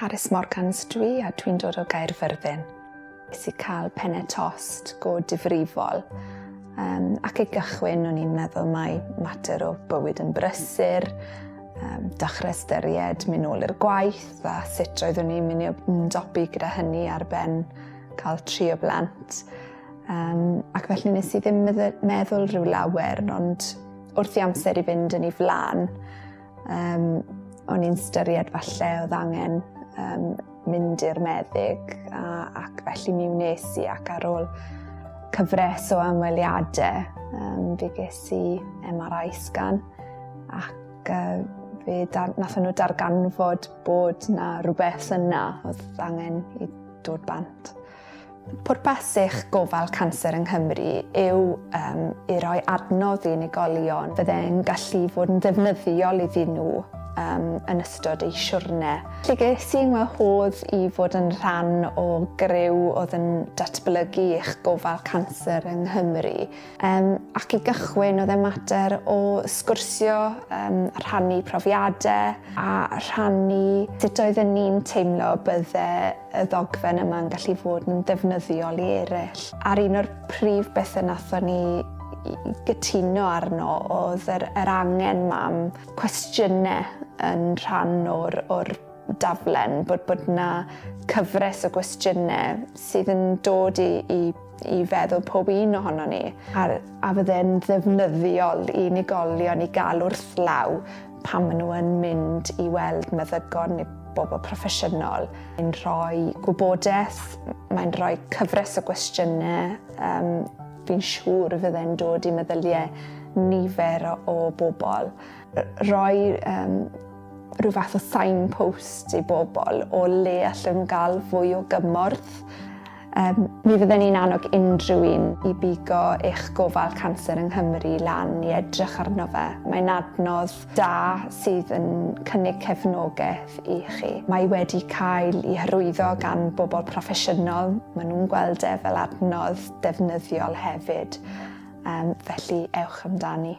Carys Morgans dwi a dwi'n dod o Gaerfyrddin. Nes i cael penne tost go difrifol. Um, ac i gychwyn, o'n i'n meddwl mai mater o bywyd yn brysur, um, dechrau styried mynd nôl i'r gwaith a sut roeddwn i'n mynd i ymdopi gyda hynny ar ben cael tri o blant. Um, ac felly nes i ddim meddwl rhyw lawer, ond wrth i amser i fynd yn ei flaen, Um, o'n i'n styried falle oedd angen um, mynd i'r meddyg a, ac felly mi wnes i ac ar ôl cyfres o ymweliadau um, fi ges i MRI scan ac uh, fe dar, nath nhw darganfod bod na rhywbeth yna oedd angen i dod bant. Pwrpas eich gofal canser yng Nghymru yw um, i roi adnodd i unigolion fydde'n gallu fod yn ddefnyddiol iddyn nhw um, yn ystod eu siwrne. Lle ges i'n wahodd i fod yn rhan o gryw oedd yn datblygu eich gofal canser yng Nghymru Um, ac i gychwyn, oedd e mater o sgwrsio, um, rhannu profiadau a rhannu sut oedden ni'n teimlo bydde y ddogfen yma'n gallu fod yn ddefnyddiol i eraill. A'r un o'r prif bethau nathon ni gytuno arno oedd yr, yr angen mam cwestiynau yn rhan o'r, or daflen, bod, bod na cyfres o gwestiynau sydd yn dod i, i i feddwl pob un ohono ni, a, a fydde'n ddefnyddiol i unigolion i gael wrth law pan maen nhw yn mynd i weld meddygon neu bobl proffesiynol. Mae'n rhoi gwybodaeth, mae'n rhoi cyfres o gwestiynau. Um, fi'n siŵr y fydde'n dod i meddyliau nifer o, o bobl. Rhoi um, rhyw fath o signpost i bobl o le allan nhw gael fwy o gymorth Um, mi fydden ni'n annog unrhyw un i bigo eich gofal canser yng Nghymru lan i edrych arno fe. Mae'n adnodd da sydd yn cynnig cefnogaeth i chi. Mae wedi cael ei hyrwyddo gan bobl proffesiynol, maen nhw'n gweld e fel adnodd defnyddiol hefyd, um, felly ewch amdani.